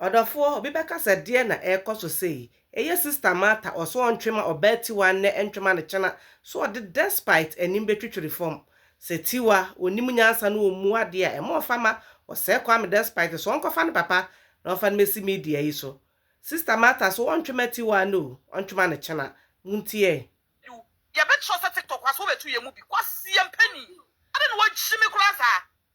Ɔdɔfoɔ, obi bɛka sɛ deɛn na ɛrekɔ so sei? Eye sister Martha ɔse ɔntwe ma ɔbaa Tiwa nnɛ ntwe ma no kyena so ɔde despite anim bɛtwitwiri fam sɛ Tiwa ɔnim nyansa na ɔmmu adeɛ a ɛma ɔfa ma ɔsɛe Kwame despite so ɔnkɔfa ne papa na ɔmfa no mɛsi media yi so sister Martha se ɔntwe ma Tiwa nnɛ o ɔntwe ma no kyena montiee Yo, yɛbɛkyerɛ sɛ tiktok aso wobɛtu yɛn mu bi, kwaseɛ mpanin, adɛn na wagyimi koraa saa,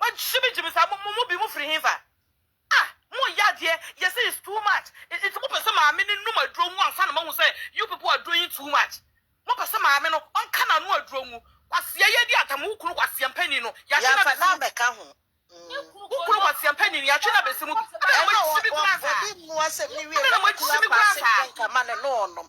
Mo gyimi gyimi saa mo mo bi mo firi hefa ah mo yɛ adeɛ yɛ sɛ is too much nti mo pɛ sɛ maame no num aduro ngu ansa na mo ahu sɛ you people aduro yi too much mo pɛ sɛ maame no ɔnka na ano aduro ngu kwasia yɛ di atam wo kunu kwasia mpanin no yɛahye na bɛsi mu bi wo kunu kwasia mpanin no yɛatwe na bɛsi mu bi ɛna mo gyimi kura saa ɛna mo gyimi kura saa.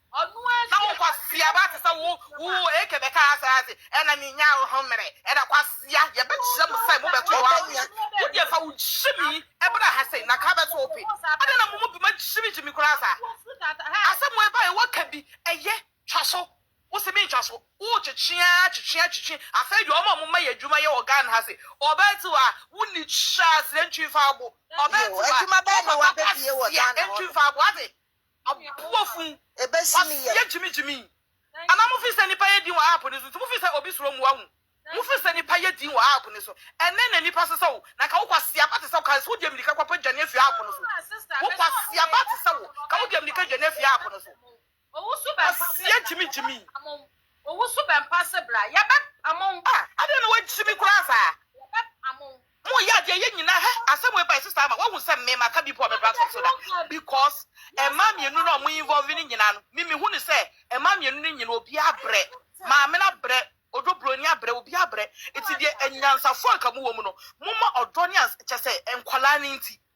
Na wo kwasia ba te sɛ wo wo eke bɛka asɛ ase ɛna menya wo ho mmerɛ ɛna kwasia yɛbɛkyerɛ mo sɛ mobɛto yɛ aweɛ wo deɛ fa wo gyimi ɛbra ha sei na ka bɛto wo pe adɛn na mo mu bi ma gyimi gyimi koraa saa asɛm wei baeɛ woaka bi ɛyɛ twa so wo se mentwa so wo kyekye aa kyekye aa kyekye afei deɛ ɔma mo ma yɛ adwuma yɛ wɔ Ghana ha sei ɔbaa ti hɔ a wo ni kyɛ asrɛ ntwi mfa abo ɔbaa ti hɔ a wo papa kasia ntwi mfa abo ate Aboa fun waseɛ gyimi gyimi. Anaa mo feel sɛ nipa yɛ din wɔ app no so nti mo feel sɛ obi suro mo wahu mo feel sɛ nipa yɛ din wɔ app no so ɛnɛ na nipa sesa o na ka wo kwaseaba te sɛ ka wo deɛ mirika kɔ pɛ dwane afiri app no so wo kwaseaba te sɛ wo ka wo deɛ mirika dwane afiri app no so waseɛ gyimi gyimi ah adeɛ na wagyimi koraa saa Mo yɛ adeɛ yɛ nyina hɛ asɛm wei bae sister ama wahu sɛ me maka bi po a me platform so da because ɛmaa mmienu no a ɔmo involve no nyina no me mehu no sɛ ɛmaa mmienu no nyina obia abrɛ maame no abrɛ odwo broni abrɛ obia abrɛ nti deɛ anyansafoɔ a nka mo wɔ mu no momma ɔdɔ ne ans kyɛsɛ nkwadaa no nti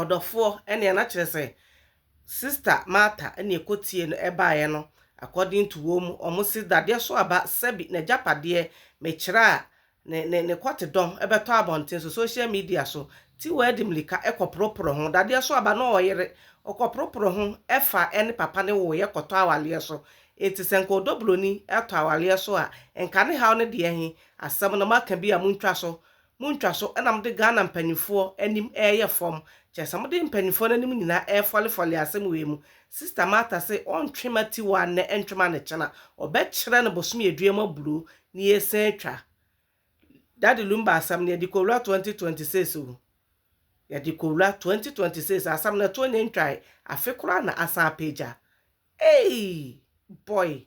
Ɔdɔfoɔ, ɛnea na kyerɛ sɛ Sista Martha na ɛkɔtiee no baeɛ no, according to wɔn mu, wɔn se dadeɛ so aba, sɛbi n'agyapadeɛ, mekyerɛ a, ne, ne, ne kɔtedɔm bɛtɔ abɔnten so, social media so, Tiwaa de mmirika kɔporoporo ho, dadeɛ so aba na ɔyere, ɔkɔporoporo ho, ɛfa ɛne papa no woeɛ kɔtɔ awareɛ so, enti sɛ nka ɔdɔ buroni tɔ awareɛ so a, nka ne haw no deɛ he, asɛm no moaka bi a montwa so, mo ntwa so na mode Ghana mpaninfoɔ anim reyɛ fɔm, kyɛsɛ mode mpaninfoɔ no anim nyinaa refɔle fɔle asɛm wei mu, Sister Martha se ɔntwe ma Tiwa nnɛ ntwe ma no kyena, ɔbɛkyerɛ no bosome aduan mu aburoo na yɛresan atwa Daddy Lumba asɛm no yɛde kɔwura 2026 o, yɛde kɔwura 2026 asɛm no ɛtoɔ nyɛ ntwae afe koraa na asan apagya eii boy.